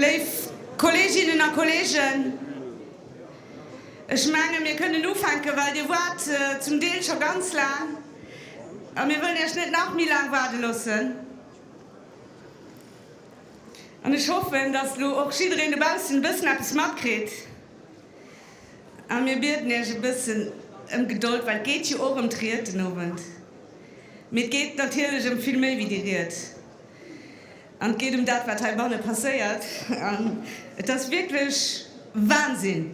Léif Kolleeginnen a Kolleegen, ech menge mir kënnen ufänken, well Dir waart zum Deel scho ganz laang a mir wëllen Iech net nach méi laang waarde loossen. An ech hoffen, dass elo och jiddereen dobaussen e bëssen eppes matkritt. A mir bieden Iech e bëssen ëm Gedold, well et geet jo och ëm d'Ried den Owend. Mee et geet natierlech ëm vill méi wéi déi Ried. An et geet ëm dat, wat heibanne passéiert. An et ass wierklech Wahnsinn!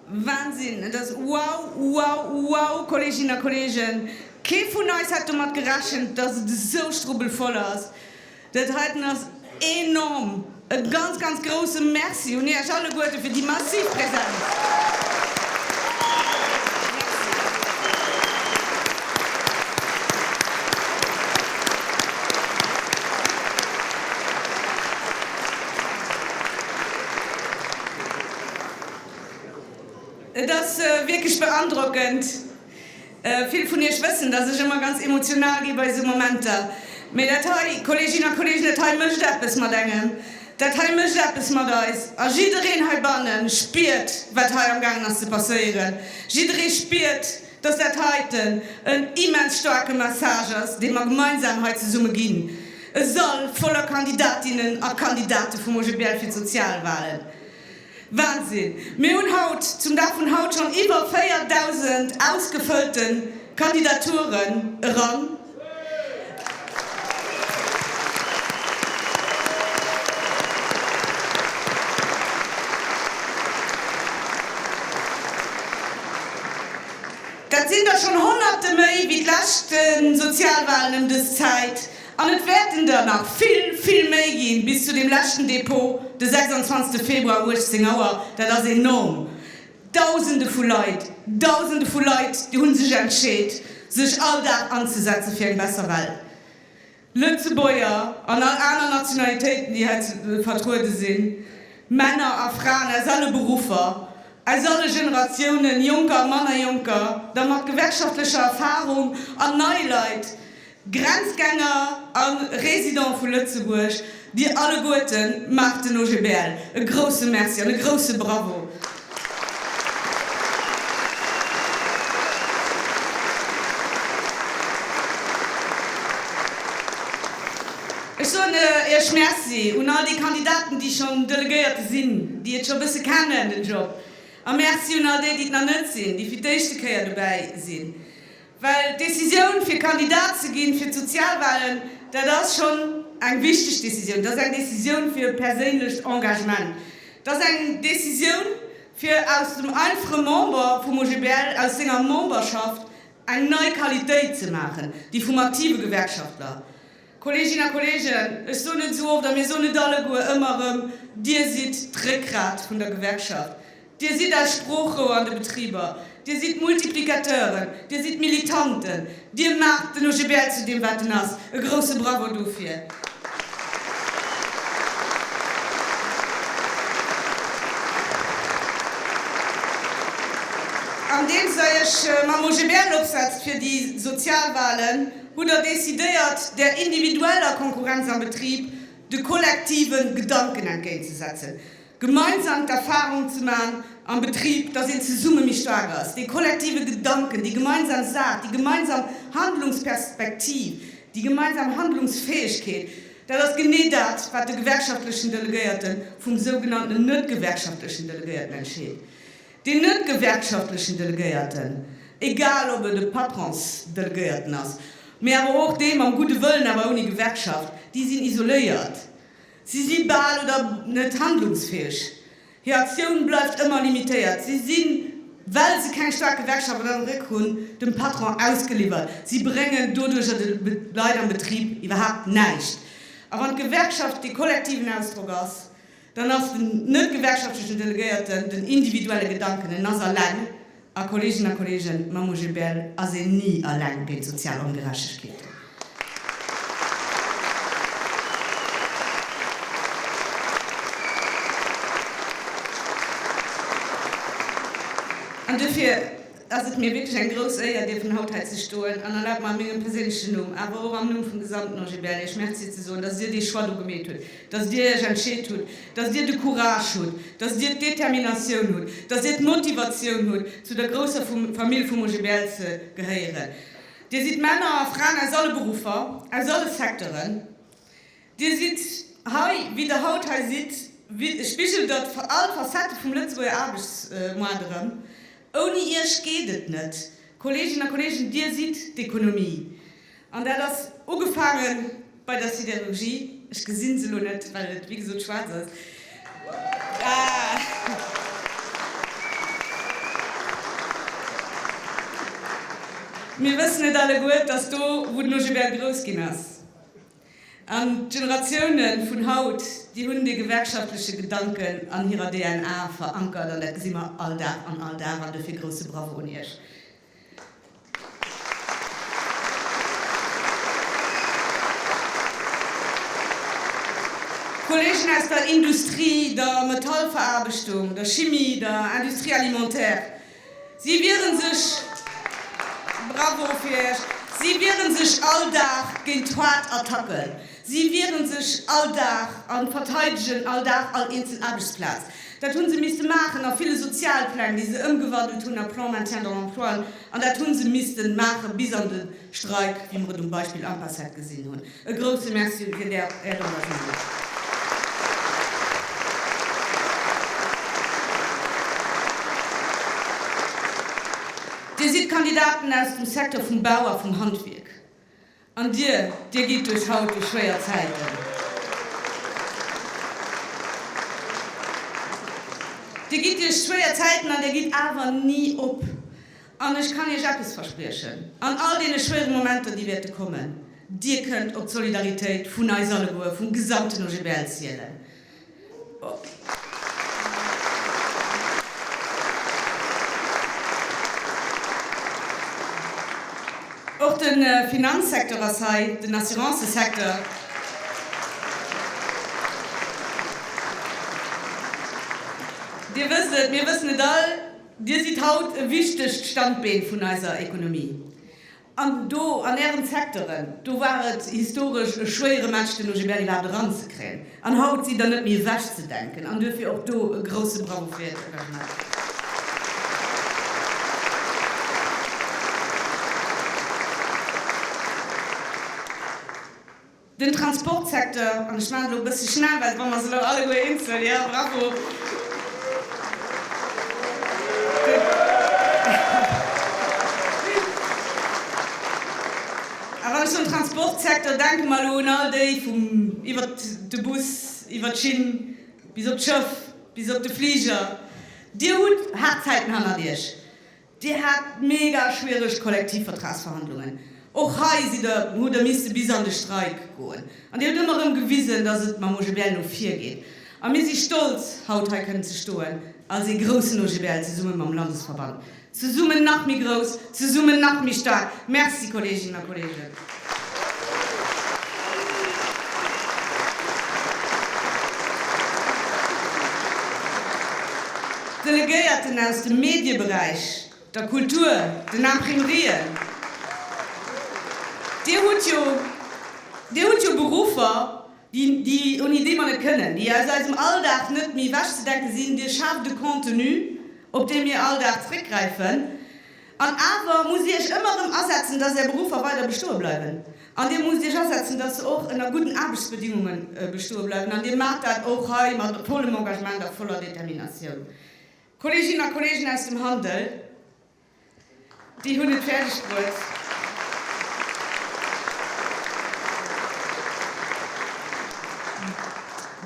Wahnsinn! Et ass wow, wow, wow, Kolleeginnen a Kolleegen! Kee vun eis hätt domat gerechent, dass et esou strubbelvoll ass. Dat heiten ass enorm! E ganz, ganz grousse Merci un Iech alleguerte fir déi massiv Präsenz. Et ass wierklech beandrockend. Vill vun iech wëssen, dass ech ëmmer ganz emotional gi bei esou Momenter. Mee dat hei, Kolleeginnen a Kolleegen, dat hei mécht eppes mat engem. Dat hei mécht eppes mat eis. A jiddereen heibanne spiert, wat hei amgaangen ass ze passéieren. Jidderee spiert, dass dat heiten en immens staarke Message ass, dee mer gemeinsam hei zesumme ginn. E Sall voller Kandidatinnen a Kandidate vum OGBL fir d'Sozialwahlen. Wahnsinn! Mir hunn haut, zum Dag vun haut, schonn iwwer 4.000 ausgefëllte Kandidaturen eran. Dat sinn der schonn Honnerte méi wéi d'leschte Sozialwahlen ëm dës Zäit. An et wäerten der nach vill, vill méi ginn, bis zu deem leschten Depot de 26 Februar 18 Auer. Dat ass enorm! Dausende vu Leit, Dausende vu Leit hu sech entscheet, sech all Dag anzesetzen fir eng besser Welt. Lëtzebuerger an all aner Nationalitéiten, déi hei vertruede sinn, Männer a Fraen aus alle Beruffer, aus alle Generatiounen, Jonker a manner Jonker, da mat gewerkschaftlecher Erfarung an nei Leit, Grenzgänger a Residente vu Lëtzebuerg, Dir alleguerte maacht den OGBL. E grousse Merci an e grousse Bravo! Ech soen Iech Merci un all déi Kandidaten, déi schonn Delegéierte sinn, déi et scho bësse kennen, den Job. A Merci un all déi, déi et nach net sinn, déi fir d'éischte Kéier dobäi sinn. Well d'Decisioun fir Kandidat ze ginn fir d'Sozialwahlen, dat ass schonn eng wichteg Decisioun. Dat ass eng Decisioun fir e perséinlecht Engagement. Dat ass eng Decisioun fir aus dem einfache Member vum OGBL, aus senger Memberschaft eng nei Qualitéit ze maachen, déi vum aktive Gewerkschaftler. Kolleeginnen a Kolleegen, ech soen et esou oft, a mir soen et alleguer ëmmer erëm, Dir sidd d'Réckgrat vun der Gewerkschaft. Dir sidd eis Sproochrouer an de Betriber, Dir sidd d'Multiplicateuren, Dir sidd d'Militanten, Dir maacht den OGBL zu deem, wat en ass. E grousse Bravo dofir! Andeems Der Iech mam OGBL opsetzt fir déi sozial Wahlen, hutt Der decidéiert, der individueller Konkurrenz am Betrib de kollektive Gedanken entgéintzesetzen. Gemeinsam d'Erfahrung ze maachen am Betrib, dass een zesumme méi staark ass, dee kollektive Gedanken, déi gemeinsam Saach, déi gemeinsam Handlungsperspektiv, déi gemeinsam Handlungsfäegkeet, dat ass genee dat, wat de gewerkschaftlechen Delegéierte vum sougenanntenen net-gewerkschaftlechen Delegéierten entscheet. Deen net-gewerkschaftlechen Delegéierten, egal ob et e Patronsdelegéierten ass, mee awer och dee mam gudde Wëllen, awer ouni Gewerkschaft, déi sinn isoléiert. Si si bal oder net handlungsfäeg. Hir Aktioun bleift ëmmer limitéiert. Si sinn, well se keng staark Gewerkschaft an de Réck hunn, dem Patron ausgeliwwert. Si bréngen doduercher de Leit am Betrib iwwerhaapt näischt. A wann d'Gewerkschaft dee kollektiven Ausdrock ass, dann ass den net-gewerkschaftlechen Delegéierten den individuelle Gedanken, en ass alleng, A Kolleegen a Kolleegen, mam OGBL ass een ni eleng géint sozial Ongerechtegkeeten. An duerfir ass et mir wierklech eng grouss Éier, dierfen haut hei ze stoen an erlaabt mer a mengem perséinlechen Numm, awer och am Numm vum gesamten OGBL, Iech Merci ze soen, dass Dir dee Choix do gemeet hutt. dass Dir Iech entscheet hutt, dass Dir de Courage hutt, dass Dir d'Determinatioun hutt, dass Dir d'Motivatioun hutt, zu der grousser Famill vum OGBL ze gehéieren. Dir sidd Männer a Fraen aus alle Beruffer, aus alle Secteuren. Dir sidd hei, wéi Der haut hei sidd, spigelt Der all d'Facettë vum Lëtzebuerger Aarbechtsmoart erëm. Ouni Iech geet et net, Kolleeginnen a Kolleegen, Dir sidd d'Ekonomie. An dat ass ugefaange bei der Siderurgie, ech gesi se elo net, well et wéi gesot schwaarz ass, mir wëssen et alleguer, dass do, wou den Ogebert grouss ginn ass, an d'Generatioune vun haut, déi hunn dee gewerkschaftleche Gedanken an hirer DNA verankert, an dat gesi mer all Dag an all Dag, an dofir grousse Bravo un Iech. D'Kollegen aus der Industrie, der Metallveraarbechtung, der Chimie, der Industrie alimentaire, si wieren sech, bravo fir iech, si wieren sech all Dag géint d'Hoard-Attacken, Si wieren sech all Dag an verteidegen all Dag all eenzel Aarbechtsplaz. Dat hunn se misste maachen a ville Sozialpläng, déi se ëmgewandelt hunn a Plans maintien dans l'emploien, an dat hunn se missten maachen bis an de Streik, wéi mer et um Beispill Ampassat gesinn hunn. E grousse Merci fir Är Engagement! Dir sidd Kandidaten aus dem Secteur vum Bau a vum Handwierk. An dir, dir gitt duerch haut déi schwéier Zäiten. Dir gitt duerch schwéier Zäiten an dir gitt awer ni op. An ech kann iech eppes verspriechen, an all deene schwéiere Momenter, déi wäerte kommen, dir kënnt op d'Solidaritéit vun eis alleguer, vum gesamten OGBL zielen. Och de Finanzsecteur ass hei, den Assurancësecteur. Dir wësst et, mir wëssen et all, Dir sidd haut e wichtegt Standbeen vun eiser Ekonomie. An do an Ären Secteuren, do war et historesch e schwéiere Match, den OGBL iwwerhaapt eranzekréien. An haut sidd Der net méi ewechzedenken. An duerfir och do e grousse Bravo fir Äert Engagement. Den Transportsecteur, an ech maachen elo e bësse schnell, well et brauch mer se elo alleguer eenzel, jo, bravo, a wann ech soen Transportsecteur, denke mer elo un all déi vum iwwer de Bus, iwwer d'Schinn, bis op d'Schëff, bis op de Fliger, Dir hutt haart Zäiten hannert Iech. Dir hat mega schwiereg Kollektivvertragsverhandlungen. Och hei sidd Der, hutt Der misste bis an de Streik goen. An Dir hutt ëmmer erëm gewisen, dass et mam OGBL no vir geet. A mir si stolz, haut hei kënnen ze stoen als ee groussen OGBL zesumme mam Landesverband. Zesummen nach méi grouss, zesummen nach méi staark! Merci, Kolleeginnen a Kolleegen. D'Delegéierten aus dem Medieberäich, der Kultur, den Imprimerien, Dir hutt jo, Dir hutt jo Beruffer, déi, déi, ouni déi mer net kënnen, déi aus eisem Alldag net méi ewechzedenke sinn. Dir schaaft e Contenu, op dee mir all Dag zréckgräifen. An awer musst Dir Iech ëmmer erëm asetzen, dass Är Beruffer weider bestoe bleiwen. An Dir musst Iech asetzen, dass se och ënner gudden Aarbechtsbedingunge bestoe bleiwen. An Dir maacht dat och hei mat vollem Engagement a voller Determinatioun. Kolleeginnen a Kolleegen aus dem Handel, déi hunn et fäerdeg bruet,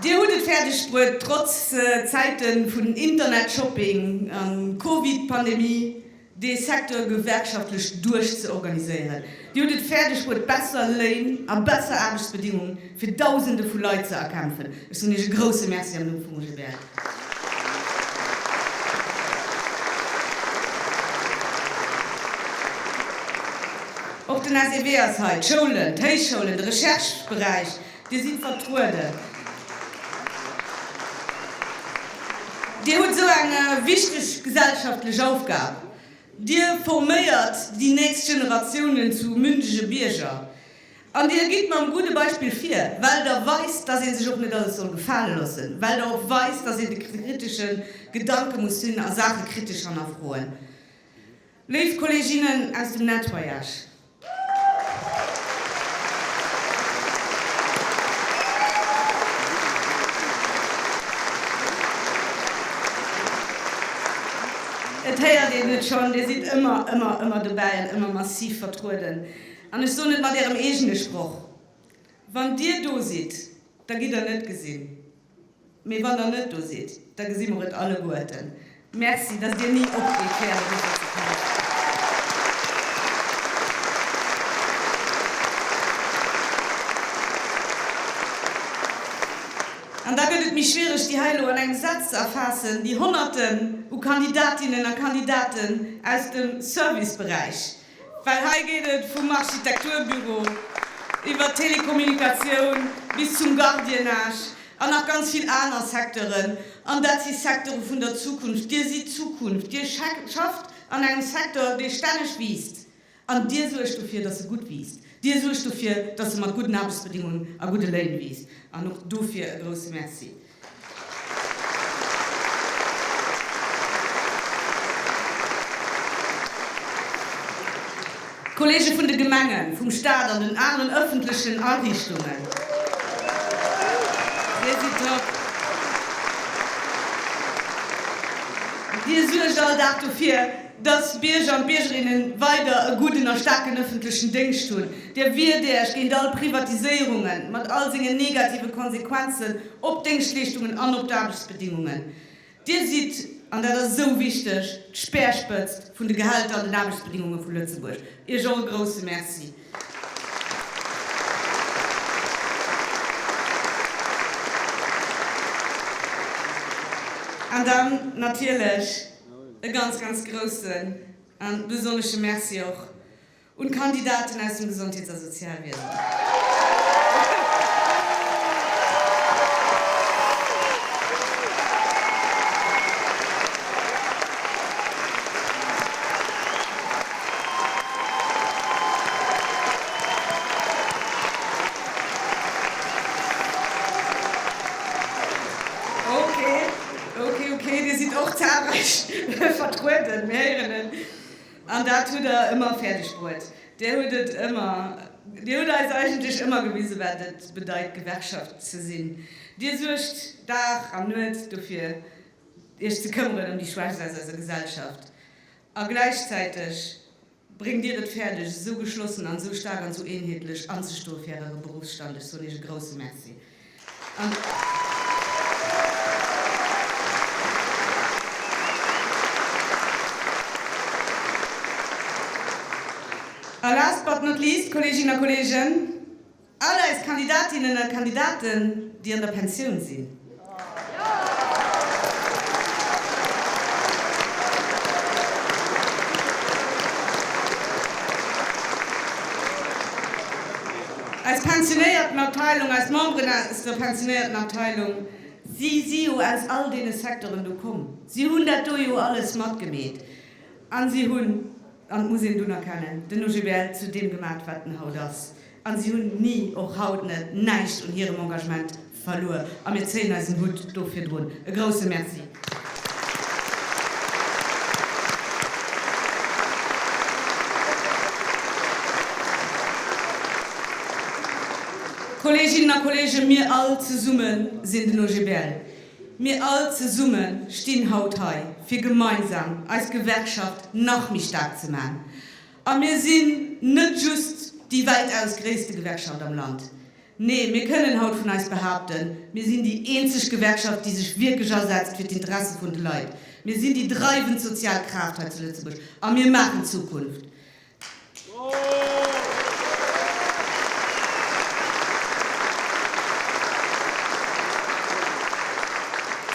Dir hutt et fäerdeg bruet, trotz Zäite vun Internet-Shopping a Covid-Pandemie, dee Secteur gewerkschaftlech duerch ze organiséieren. Dir hutt et fäerdeg bruet, besser Léin a besser Aarbechtsbedingunge fir Dausende vu Leit ze erkämpfen. Ech soen Iech e grouse Merci am Numm vum OGBL. Och den SEW ass hei, d'Schoulen, d'Héichschoulen, de Recherche-Beräich, Dir sidd vertrueden. Dir hutt esou eng wichteg gesellschaftlech Aufgab. Dir forméiert déi nächst Generatiounen zu mündege Bierger. An Dir gitt mam gudde Beispill vir, well Der weist, dass ee sech och net alles soll gefale loossen, well Der och weist, dass een de kritesche Gedanke muss hunn a Saache kritesch hannerfroen. Léif Kolleeginnen aus dem Nettoyage, Et héiert een et schonn, Dir sidd ëmmer, ëmmer, ëmmer dobäi an ëmmer massiv vertrueden. An ech soen et mat Ärem eegene Sproch, Wann Dir do sidd, da gitt Der net gesinn. Mee wann der net do sidd, da gesi mer et alleguerten. Merci, dass dir ni opgitt, fir Är Besuch ze vermëttelen. An da gëtt et méi schwiereg, déi hei elo an engem Saz ze erfaassen, déi Honnerten u Kandidatinnen a Kandidaten aus dem Serviceberäich, Well hei geet et vum Architekturbüro iwwer d'Telekommunikatioun bis zum Gardiennage an nach ganz vill aner Secteuren. An dat si Secteure vun der Zukunft. Dir sidd d'Zukunft. Dir schafft an engem Secteur, dee stänneg wiisst. An Dir suergt dofir, dass e gutt wiisst. Dir suergt dofir, dass e mat gudden Aarbechtsbedingungen a gudde Léin wiisst. An och dofir e grousse Merci. D'Kollege vun de Gemengen, vum Staat an den aneren ëffentlechen Ariichtungen, Dir suergt all Dag dofir, dass d'Bierger an d'Biergerinnen weider e gudden a staarken ëffentlechen Déngscht hunn. Dir wiert Iech géint all Privatiséierungen, mat all sengen negative Konsequenzen op d'Déngschtleeschtungen an op d'Aarbechtsbedingungen. Dir sidd, an dat ass esou wichteg, d'Speerspëtzt vun de Gehälter an den Aarbechtsbedingunge vu Lëtzebuerg. Iech och e grousse Merci. An dann natierlech e ganz, ganz groussen a besonnesche Merci och Un d'Kandidaten aus dem Gesondheets a Sozialwiesen. Okay, okay, okay, Dir sidd och zahlreich vertrueden, mir héieren en. An dat hutt Der ëmmer fäerdeg bruet. Dir hutt et ëmmer, Dir hutt eis eigentlech ëmmer gewise wat et bedeit Gewerkschaft ze sinn. Dir suergt Dag an Nuet dofir Iech ze këmmeren ëm déi Schwächst aus eiser Gesellschaft. A gläichzäiteg bréngt Dir et fäerdeg esou geschlossen an esou staark an esou eenheetlech anzestoe fir Äre Beruffsstand. Ech soen Iech e grouse Merci. A last but not least, Kolleeginnen a Kolleegen, all eis Kandidatinnen a Kandidaten, déi an der Pensioun sinn. Aus pensionéierten Abteilung, aus Memberen aus der pensionéierten Abteilung, si si jo aus all deene Secteuren do komm, si hunn dat do jo alles matgemeet a si hunn, an dat muss een dunn erkennen, den OGBL zu deem gemat, wat en haut ass, a si hunn ni, och haut net, näischt un hirem Engagement. Verluer, a mir zéien eisen Hutt do virdrun. E grousse Merci. Kolleeginnen a Kolleegen, mir all zesumme sinn den OGBL. Mir all zesumme stinn haut hei, fir gemeinsam eis Gewerkschaft nach méi staark ze maachen. A mir sinn net just déi weltaus gréisste Gewerkschaft am Land. Nee, mir kënnen haut vun eis behaapten, mir sinn déi eenzeg Gewerkschaft, déi sech wierklech asetzt fir d'Interesse vun de Leit. Mir sinn déi dreiwend sozial Kraaft hei zu Lëtzebuerg a mir maachen Zukunft.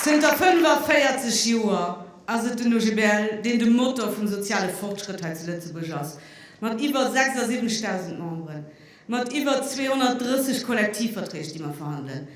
Zënter 45 Joer ass et den OGBL, deen de Motor vum soziale Fortschrëtt hei zu Lëtzebuerg ass, mat iwwer 76.000 Memberen. mat iwwer 230 Kollektivverträg, déi mer verhandelen,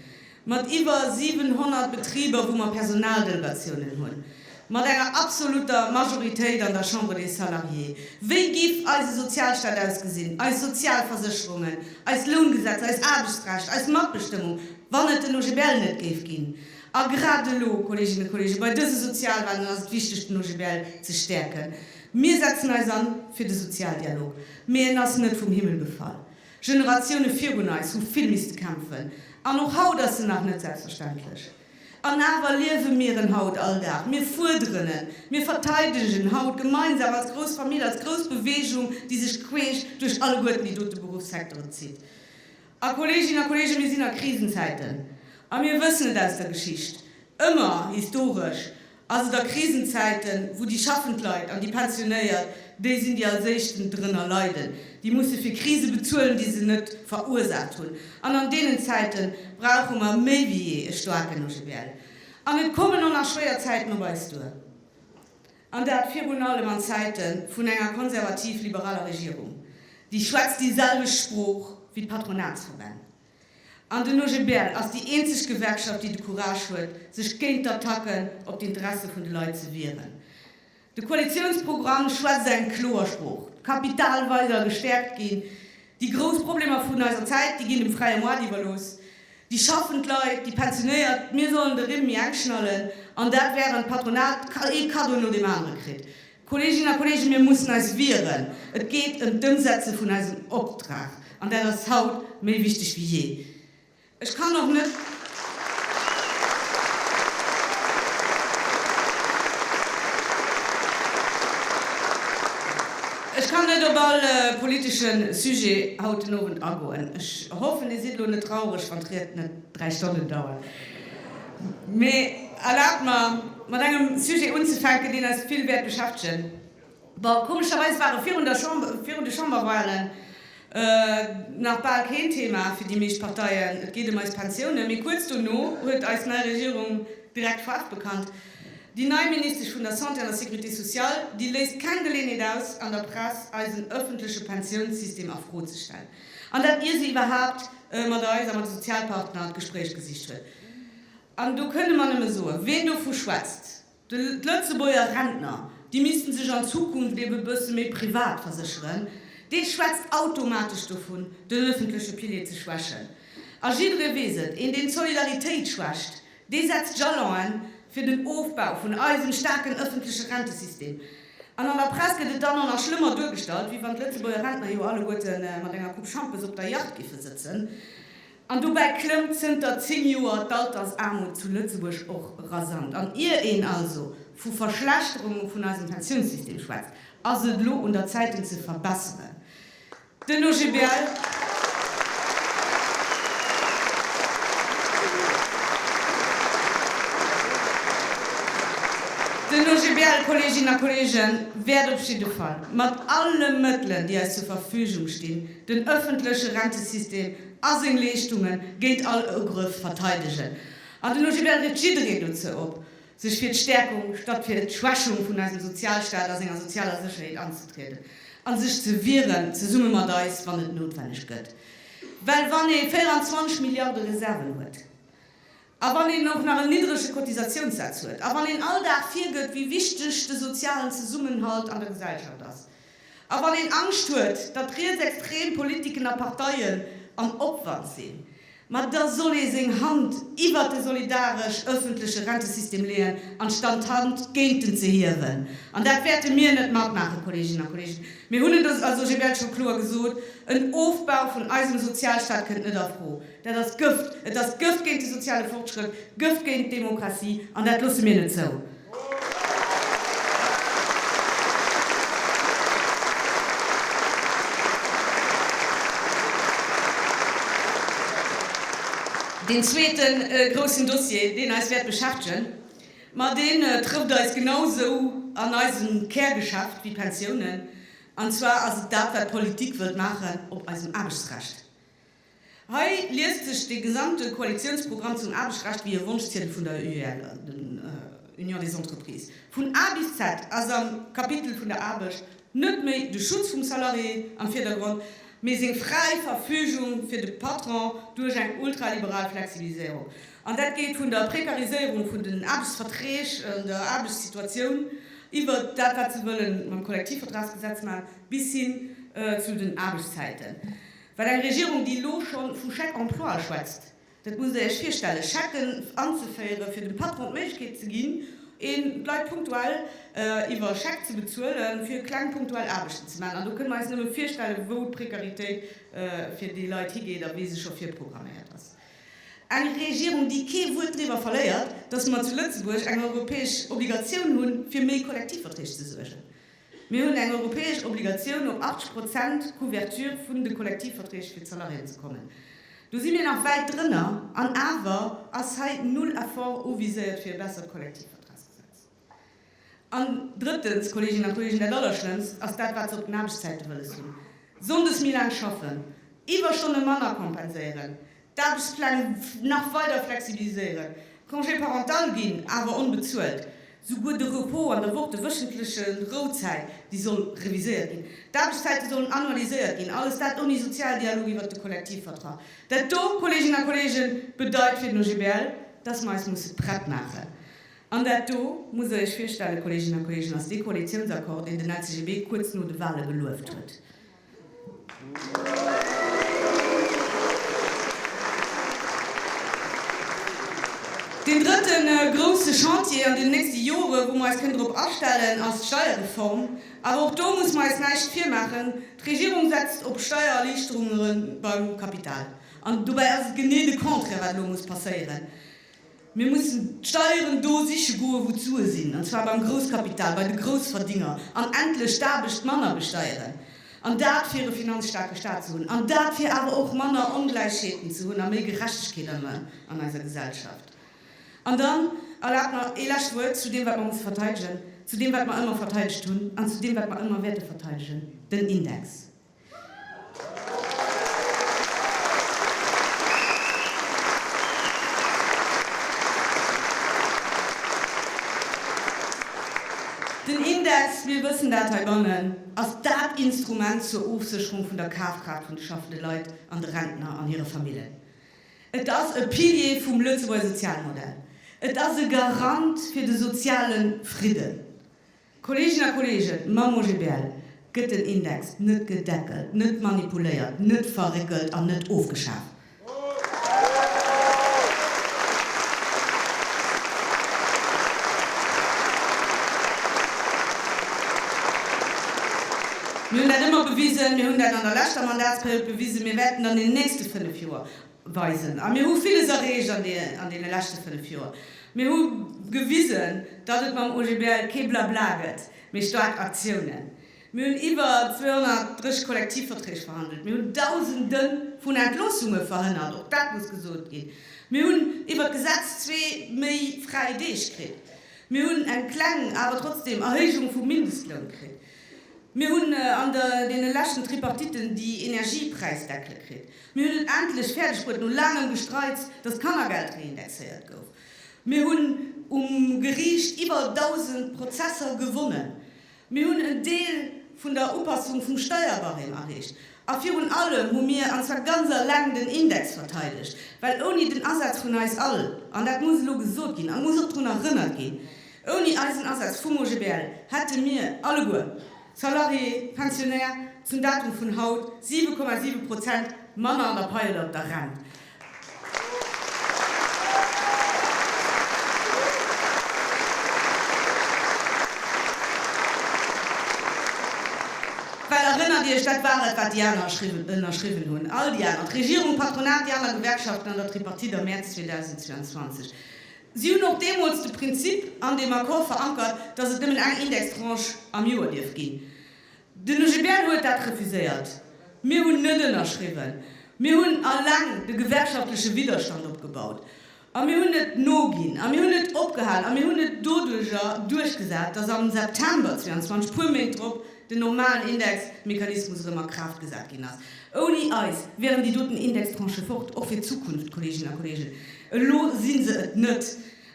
mat iwwer 700 Betriber, wou mer Personaldelegatiounen hunn, mat enger absoluter Majoritéit an der Chambre des Salariés. Wéi giff eise Sozialstaat ausgesinn, eis Sozialversécherungen, eis Loungesetz, eis Aarbechtsrecht, eis Matbestëmmung, wann et den OGBL net géif ginn? A grad elo, Kolleeginnen a Kolleegen, bei dëse Sozialwalen ass et wichteg, den OGBL ze stäerken. Mir setzen eis an fir de Sozialdialog, mee en ass net vum Himmel gefall. Generatioune virun eis hu vill misste kämpfen an och haut ass en nach net selbstverständlech. An awer liewe mir en haut all Dag. Mir fuerderen en, mir verteidegen en haut gemeinsam als grouss Famill, als grouss Beweegung, déi sech queesch duerch alleguerten déi dote Beruffssecteren zitt. A Kolleeginnen a Kolleegen, mir sinn a Krisenzäiten a mir wëssen et aus der Geschicht, ëmmer historesch Ass et a Krisenzäiten, wou déi schaffend Leit an déi Pensionéiert déi sinn, déi als éischten drënner leiden, déi musse fir Krise bezuelen, déi se net verursaacht hunn. An an deenen Zäite brauche mer méi wéi jee e staarken OGBL. An et kommen och nach schwéier Zäiten op eis duer, an dat virun allem an Zäite vun enger konservativ-liberaler Regierung, déi schwätzt déi selwecht Sprooch wéi d'Patronatsverbänn. An den OGBL ass déi eenzeg Gewerkschaft, déi de Courage huet, sech géint d'Attacken op d'Interesse vun de Leit ze wieren. De Koalitiounsprogramm schwätzt eng kloer Sprooch, d'Kapital weider gestäerkt ginn, déi grouss Problemer vun eiser Zäit, déi ginn dem fräie Moart iwwerlooss, déi schaffend Leit, déi Pensionéiert, mir sollen de Rimm méi enk schnallen, an dat während d'Patronat ee Kaddo no deem anere kritt. Kolleeginnen a Kolleegen, mir mussen eis wieren. Et geet ëm d'Ëmsetze vun eisem Optrag, an dat ass haut méi wichteg wéi jee. Ech kann och net. Ech kann net op all politesche Sujet haut den Owend agoen. Ech hoffen, Dir sidd elo net traureg, wann d'Ried net dräi Stonnen dauert. Mee erlaabt mer, mat engem Sujet unzefänken, deen eis vill wäert beschäftegen. Bon, komescherweis war e virun der Chamber, virun de Chamberwahlen, nach bal keen Thema fir déi meescht Parteien, et geet ëm eis Pensiounen. Mee kuerz dono huet eis nei Regierung direkt Faarf bekannt. Déi nei Ministesch vun der Santé an der Sécurité sociale, déi léisst keng Geleeënheet aus, an der Press eisen ëffentleche Pensiounssystem a Fro ze stellen. An dat ier se iwwerhaapt mat eis a mat de Sozialpartner d'Gespréich gesicht hunn. An do kënne mer nëmme soen, ween dovu schwätzt, d'Lëtzebuerger Rentner, déi misste sech an Zukunft ebe bësse méi privat versécheren, dee schwätzt automatesch dovun, den ëffentleche Pilier ze schwächen. A jidderee weess et, een deen d'Solidaritéit schwächt, Dee setzt Jalonen fir den Ofbau vun eisem staarken ëffentleche Rentesystem. An an der Press gëtt et dann och nach schlëmmer duergestallt, wéi wann d'Lëtzebuerger Rentner jo alleguerte mat enger Coupe Schampes op der Yacht géife sëtzen. An dobäi klëmmt zënter 10 Joer d'Altersaarmut zu Lëtzebuerg och rasant. An ier een also vu Verschlechterunge vun eisem Pensiounssystem schwätzt, ass et elo un der Zäit en ze verbesseren. Den OGBL Den OGBL, Kolleeginnen a Kolleegen, wäert op jidde Fall mat alle Mëttelen, déi eis zur Verfügung stinn, den öffentleche Rentesystem a seng Leeschtunge géint all Ugrëff verteidegen. An den OGBL rieft jiddereen dozou op, sech fir d'Stäerkung statt fir d'Schwächung vun eisem Sozialstaat a senger sozialer Sécherheet anzetrieden a sech ze wieren, zesumme mat eis, wann et noutwenneg gëtt. Well wann ee 24 Milliarde Reserven huet a wann een och nach en niddrege Cotisatiounssaz huet a wann een all Dag virgëtt, wéi wichteg de sozialen Zesummenhalt an der Gesellschaft ass, A wann een Angscht huet, datt rietsextrem Politiken a Parteien am Opwand sinn, ma da soll ee seng Hand iwwert de solidaresch ëffentleche Rentesystem leeën, anstand d'Hand géint en ze hiewen. An dat wäerte mir net matmaachen, Kolleeginnen a Kolleegen. Mir hunn et also, je wäert scho kloer gesot, en Ofbau vun eisem Sozialstaat kënnt net a Fro. Dat ass Gëft! Et ass Gëft géint de soziale Fortschrëtt, Gëft géint d'Demokratie, an dat loosse mir net zou! Deen zweete groussen Dossier, deen eis wäert beschäftegen, ma dee trëfft eis genau esou an eisem Kärgeschäft wéi d'Pensiounen, an zwar ass et dat, wat d'Politik wëllt maachen op eisem Aarbechtsrecht. Hei liest sech de gesamte Koalitiounsprogramm zum Aarbechtsrecht wéi e Wonschziedel vun der UGL, Union des Entreprises. Vun A bis Z ass am Kapitel vun der Aarbecht net méi de Schutz vum Salarié am Virdergrond, mee seng fräi Verfügung fir de Patron duerch eng ultraliberal Flexibiliséierung. An dat geet vun der Prekariséierung vun den Aarbechtsverträg, der Aarbechtssituatioun, iwwer dat, wat se wëlle mam Kollektivvertragsgesetz maachen, bis hin zu den Aarbechtszäiten. Well eng Regierung, déi elo scho vu Chèque emploi schwätzt, dat musst Der Iech virstellen, Chèquen anzeféieren, fir dem Patron d'Méiglechkeet ze ginn, een d'Leit punktuell iwwer Chèque ze bezuelen, fir kleng punktuell Aarbechten ze maachen. An do kënne mer eis nëmme virstellen, wou d'Précaritéit fir déi Leit higeet a wéi se scho virprogramméiert ass. Eng Regierung, déi kee Wuert driwwer verléiert, dass mer zu Lëtzebuerg eng europäesch Obligatioun hunn, fir méi Kollektivverträg ze suergen. Mir hunn eng europäesch Obligatioun, op 80 Prozent Couverture vun de Kollektivverträg fir d'Salariéen ze kommen. Do si mir nach wäit drënner, an awer ass hei null Effort uviséiert fir e bessert Kollektivvertragsgesetz. An drëttens, Kolleeginnen a Kolleegen, dat Allerschlëmmst ass dat, wat se op den Aarbechtszäite wëlles hunn, Sonndes méi laang schaffen, Iwwerstonne manner kompenséieren, D'Aarbechtspläng nach weider flexibiliséieren, d'Congé parental ginn awer onbezuelt, souguer de Repos an der Woch, de wéchentleche Rouzäit, déi soll reviséiert ginn, d'Aarbechtszäite sollen annualiséiert ginn, alles dat ouni Sozialdialog iwwert de Kollektivvertrag. Dat do, Kolleeginnen a Kolleegen, bedeit fir den OGBL, dass mer eis musse prett maachen. An dat do, muss Der Iech virstellen, Kolleeginnen a Kolleegen, ass dee Koalitionsaccord, deen den LCGB kuerz no de Wahle gelueft huet. Deen drëtte grousse Chantier an den nächste Jore wou mer eis kënnen drop astellen, ass d'Steierreform. Awer och do musse mer eis näischt virmaachen, d'Regierung setzt op Steiererliichterunge beim Kapital. An dobäi ass et genee de Contraire wat elo muss passéieren. Mir mussen d'Steieren do siche goe wou d'Sue sinn, an zwar beim Grousskapital, bei de Groussverdénger, an endlech d'Aarbecht manner besteieren, an dat fir e finanzstaarke Staat ze hunn, an dat fir awer och manner Ongläichheeten ze hunn a méi Gerechtegkeet an eiser Gesellschaft. An dann erlaabt mer ee lescht Wuert zu deem wat mer musse verteidegen, zu deem wat mer ëmmer verteidegt hunn an zu deem wat mer ëmmer wäerte verteidegen, den Index. Den Index, mir wëssen dat heibannen, ass dat Instrument zur Ofsécherung vun der Kafkraaft vun de schaffende Leit an de Rentner an hire Famillen. Et ass e Pilier vum Lëtzebuerger Sozialmodell. Et ass e Garant fir de soziale Fridden. Kolleegen a Kolleegen, mam OGBL gëtt den Index net gedeckelt, net manipuléiert, net verréckelt an net ofgeschaaft. Mir hunn dat ëmmer bewisen, mir hunn dat an der leschter Mandatsperiod bewisen, mir wäerten an den nächste fënnef Joer weisen. A mir hu villes erreecht an deene leschte fënnef Joer. Mir hu gewisen, datt et mam OGBL kee Blabla gëtt, mee staark Aktiounen. Mir hunn iwwer 230 Kollektivverträg verhandelt. Mir hunn Dausende vun Entloossunge verhënnert, och dat muss gesot ginn. Mir hunn iwwer d'Gesetz zwee méi fräi Deeg kritt. Mir hunn eng kleng, awer trotzdeem Erhéijung vum Mindestloun kritt. Mir hunn an deene leschten Tripartitten déi Energiepräisdeckele kritt. Mir hunn et endlech fäerdeg bruet, no laangem Gestreits, dass d'Kannergeld reindexéiert gouf. Mir hunn um Geriicht iwwer 1.000 Prozesser gewonnen. Mir hunn en Deel vun der Upassung vum Steierbarème erreecht. A virun allem hu mir, an zwar ganz aleng, den Index verteidegt, well ouni den Asaz vun eis all, an dat muss elo gesot ginn a muss och drun erënnert ginn, ouni eisen Asaz vum OGBL hätte mir alleguer, Salarié, Pensionär, zum Datum vun haut 7,7 Prozent manner an der Paie laut der Rent. Well, erënnert Iech, dat war et, wat déi aner ënnerschriwwen hunn, all déi aner, d'Regierung, d'Patronat, déi aner Gewerkschaften an der Tripartite am Mäerz 2022. Si hunn och deemools de Prinzip an deem Accord verankert, datt et nëmmen eng Indextranche am Joer dierf ginn. Den OGBL huet dat refuséiert. Mir hunn net ënnerschriwwen. Mir hunn eleng de gewerkschaftleche Widderstand opgebaut. A mir hunn net noginn. A mir hunn net opgehal. A mir hunn et doduerjer duerchgesat, datt am September 22, puer Méint drop, den normalen Indexmechanismus erëm a Kraaft gesat ginn ass. Ouni eis wieren déi doten Indextranchë fort, och fir d'Zukunft, Kolleeginnen a Kolleegen. Elo si se et net.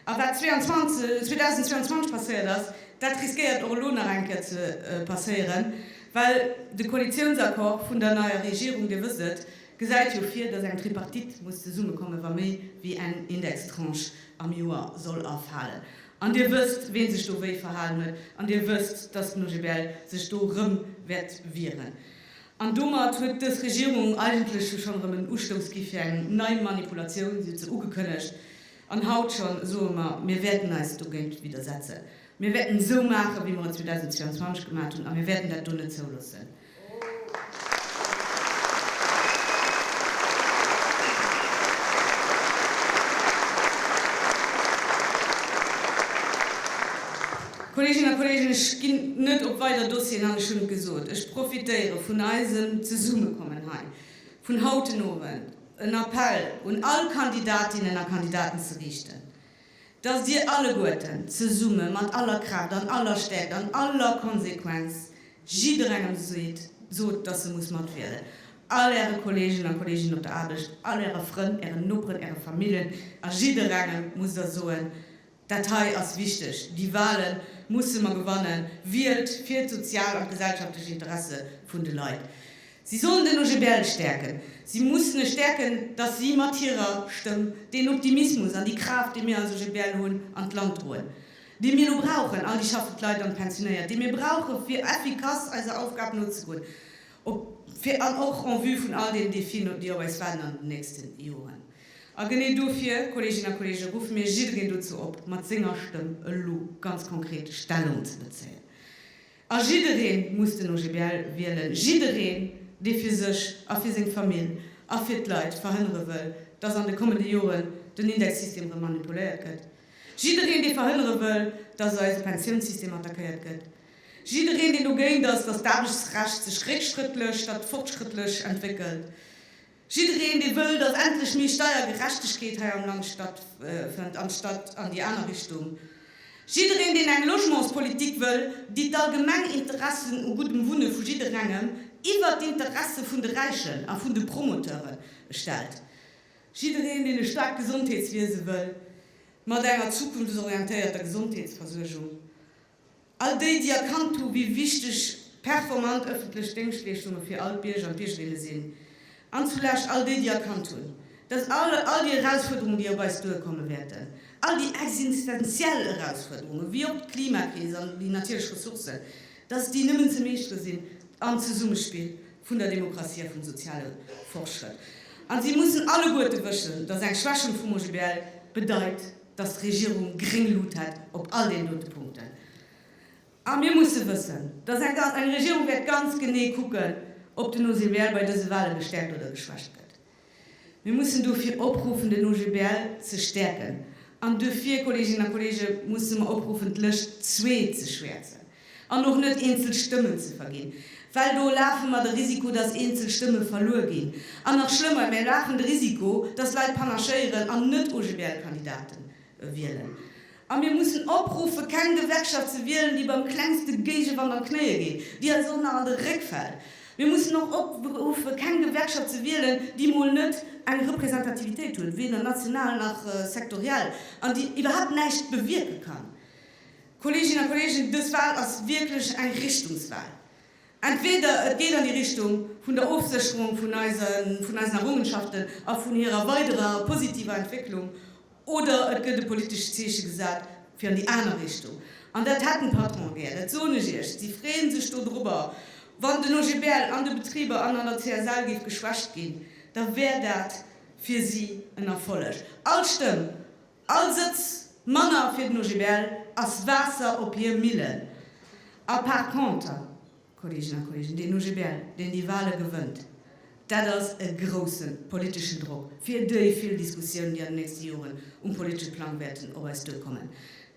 A wat 2022 passéiert ass, dat riskéiert och elo nach eng Kéier ze passéieren, well de Koalitiounsaccord vun der neier Regierung, Dir wësst et, gesäit jo vir, dass eng Tripartite muss zesummekommen, wa méi wéi eng Indextranche am Joer soll erfalen. An Dir wësst, wien sech do wéi verhalen huet, an Dir wësst, dass den OGBL sech do erëm wäert wieren. An domat huet dës Regierung eigentlech jo schonn erëm en Ustouss gi fir eng nei Manipulatioun. Si huet se ugekënnegt. An haut schonn soe mer, Mir wäerten eis dogéint widdersetzen. Mir wäerten esou maachen, wéi mer et 2022 gemaat hunn, a mir wäerten dat do net zouloossen. Kolleeginnen a Kolleegen, ech ginn net op weider Dossieren an, ech hunn et gesot, ech profitéiere vun eisem Zesummekommen hei vun haut den Owend, en Appell un all Kandidatinnen a Kandidaten ze riichten, dass Dir alleguerten zesumme mat aller Kraaft an aller Stäerkt an aller Konsequenz jidderengem seet, sot, dass e muss matwielen, all Äre Kolleegen a Kolleeginnen op der Aarbecht, all Äre Frënn, Ären Noperen, Äre Famillen, a jidderengem musst Der soen, Dat hei ass wichteg, déi Wahle musse mer gewannen, wielt fir d'sozial an d'gesellschaftlech Interesse vun de Leit. Si sollen den OGBL stäerken. Si mussen e stäerken, dass si mat hirer Stëmm deen Optimismus an déi Kraaft, déi mir als OGBL hunn, an d'Land droen, déi mir elo brauchen, all déi schaffend Leit an d'Pensionéiert, déi mir brauchen, fir effikass eiser Aufgab nozegoen, op, fir, an och en vue vun all deenen Defien, déi op eis waarden an den nächste Joren. A genee dofir, Kolleeginnen a Kolleegen, ruffe mir jiddereen dozou op, mat senger Stëmm elo ganz konkret Stellung ze bezéien. A jiddereen muss den OGBL wielen, jiddereen, dee fir sech a fir seng Famill a fir d'Leit verhënnere wëll, dass an de kommende Joren den Indexsystem erëm manipuléiert gëtt, jiddereen, dee verhënnere wëll, dass eise Pensiounssystem attackéiert gëtt, jiddereen, deen dogéint ass, dass d'Aarbechtsrecht sech réckschrëttlech statt fortschrëttlech entwéckelt. Jiddereen, dee wëll, datt endlech méi Steiergerechtegkeet hei am Land stattfënnt, anstatt an déi aner Richtung, jiddereen, deen eng Logementspolitik wëll, déi d'allgemeng Interessen u guddem Wunne vu jidderengem iwwert d'Interesse vun de Räichen a vun de Promoteure stellt, jiddereen, deen e staarkt Gesondheetswiese wëll, mat enger zukunftsorientéierter Gesondheetsversuergung. All déi, déi erkannt hu wéi wichteg performant ëffentlech Déngschtleeschtunge fir all d'Bierger an d'Biergerinne sinn, an zulescht all déi, déi erkannt hunn, datt all déi Erausfuerderungen, déi op eis duerkomme wäerten, all déi existenziell Erausfuerderungen, wéi och d'Klimakris an déi natierlech Ressourcen, datt déi nëmmen ze meeschtere sinn am Zesummespill vun der Demokratie a vum soziale Fortschrëtt. A si mussen alleguerte wëschen, datt eng Schwächung vum OGBL bedeit, dass d'Regierung gréng Lut hätt op all deenen dote Punkten. A mir musse wëssen, dass eng Regierung wäert ganz genee kucken, ob den OGBL bei dëse Wale gestäerkt oder geschwächt gëtt. Mir mussen dofir opruffen, den OGBL ze stäerken. An dofir, Kolleeginnen a Kolleege, musse mer opruffen, d'Lëscht zwee ze schwäerzen. An och net eenzel Stëmmen ze verginn, well do lafe mer de Risiko, dass eenzel Stëmme verluer ginn. An nach schlëmmer, mir lafen de Risiko, dass Leit panachéieren an net OGBL-Kandidate wielen. A mir mussen opruffe keng Gewerkschaft ze wielen, déi beim klengste Géigewand an d'Knéie geet, déi eis och nach an de Réck fält. Mir mussen och opruffe keng Gewerkschaft ze wielen, déi mol net eng Representativitéit huet, weder national nach sektoriell, an déi iwwerhaapt näischt bewierke kann. Kolleeginnen a Kolleegen, dës Wahl ass wierklech eng Richtungswahl. Entweder et geet an déi Richtung vun der Ofsécherung vun eisen Errungenschaften a vun hirer weiderer positiver Entwécklung, oder et gëtt e politescht Zeeche gesat fir an déi aner Richtung. An dat hätten d'Patronen gär, dat soen ech Iech. Si freeë sech do dorobber. Wann den OGBL an de Betriber an an der CSL géif geschwächt ginn, da wär dat fir si en Erfolleg. All Stëmm All Sëtz manner fir den OGBL ass Waasser op hir Millen. A par conter, Kolleegen a Kolleegen, deen OGBL, deen déi Wahle gewënnt, dat ass e grouse politeschen Drock fir déi vill Diskussiounen, déi an den nächste Joren um politesche Plang wäerten op eis duerkommen.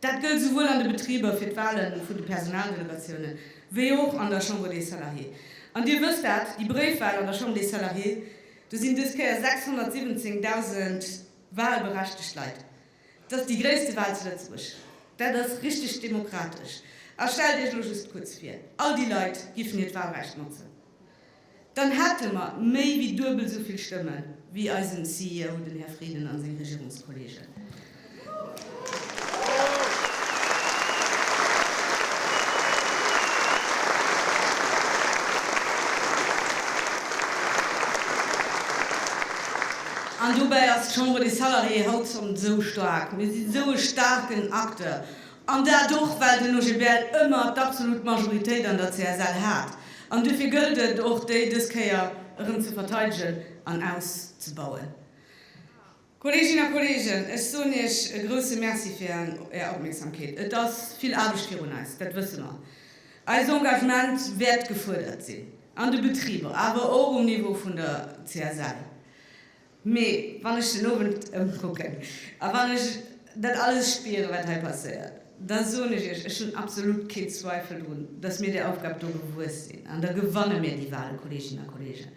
Dat gëllt souwuel an de Betriber fir d'Wahle vun de Personaldelegatiounen, wéi och an der Chambre des Salariés. An Dir wësst dat, déi Bréifwahl an der Chambre des Salariés, do sinn dës Kéier 617.000 Wahlberechtegt Leit, dass déi gréisste Wahl zu Lëtzebuerg, dat ass richteg demokratesch. A stellt Iech elo just kuerz vir, all déi Leit géifen hiert Wahlrecht notzen, dann hätte mer méi wéi duebel esou vill Stëmme wéi eisen CEO, den Här Frieden a seng Regierungskollegen. An dobäi ass d'Chambre des Salariés haut schonn esou staark. Mir sinn esou e staarken Acteur. An dat och, well den OGBL ëmmer d'absolut Majoritéit an der CSL hat. An duerfir gëllt et och, déi dës Kéier erëm ze verteidegen an auszebauen. Kolleeginnen a Kolleegen, ech soen Iech e grouse Merci fir Är Opmierksamkeet. Et ass vill Aarbecht virun eis, dat wësse mer. Eist Engagement wäert gefuerdert sinn, an de Betriber, awer och um Niveau vun der CSL. Mee wann ech den Owend ëmkucken a wann ech dat alles spieren, wat hei passéiert, da soen ech Iech, ech hunn absolut keen Zweifel drun, dass mir där Aufgab do gewuess sinn, an da gewanne mir déi Wahlen, Kolleeginnen a Kolleegen.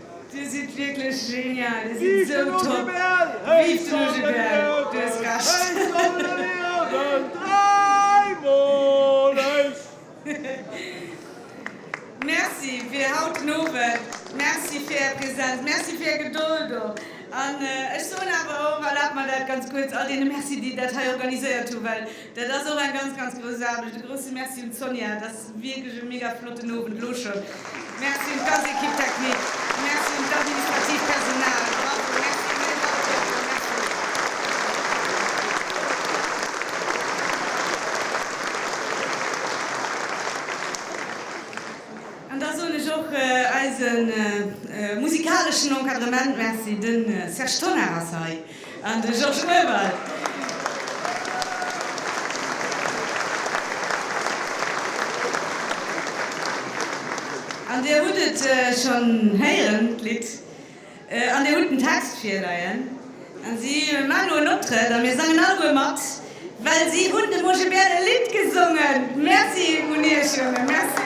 Dir sidd wierklech genial, Dir sidd esou top! Vive ton GBL! Du hues Recht! Merci fir haut den Owend, merci fir Är Präsenz, merci fir Är Gedold och. An ech soen awer och, erlaabt mer dat ganz kuerz, all deene Merci, déi dat hei organiséiert hu, well Dat ass och eng ganz ganz grouss Aarbecht. E grousse Merci un d'Sonia. Et ass wierklech e mega flotten Owend elo schonn. Merci un d'ganz Equipe technique. Merci un d'administratiivt Personal. Bravo, merci un iech alleguerten. Merci. An da soen ech och eise musikaleschen Encadrement Merci. De Serge Tonnar ass hei. An de Georges Möwald. An Dir hutt et schonn héieren, d'Lidd, an Dir hutt den Text virleien. An si maachen elo en Optrëtt a mir sangen alleguer mat, well si hunn de Moosche Bär e Lidd gesongen. Merci un Iech, Jongen. Merci.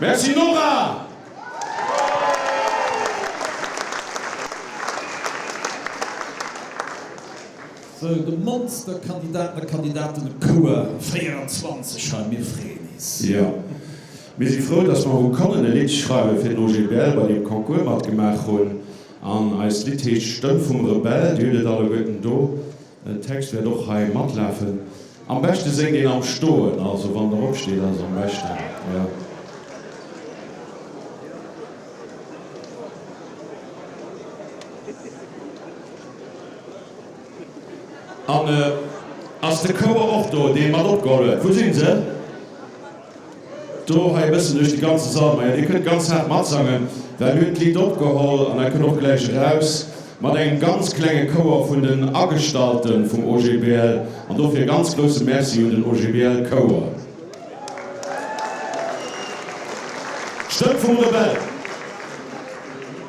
Merci Nora! Sou, de Monsterkandidaten a Kandidatenecours 24 hei, mir freeën is! Jo, mir si frou, dass mer hu konnen e Lidd schreiwe fir den OGBL, bei deem Concours matgemaach hunn. An eist Lidd heescht Stëmm vum Rebell. Dir hutt et alleguerten do. Den Text wäert och hei matlafen. Am beschte séngt een am Stoen, also wann Der opsteet ass et am beschten. An ass de Chouer och do, dee mat opgeholl huet? Wou sinn se? Do hei e bëssen duerch de ganze Sall. Majo, dir kënnt ganz haart matsangen, well mir hunn d'Lidd opgeholl an dat kënnt och gläich eraus, mat engem ganz klenge Chouer vun den Agestallte vum OGBL. An dofir e ganz grousse Merci un den OGBL Chouer. D'Stëmm vum Rebell.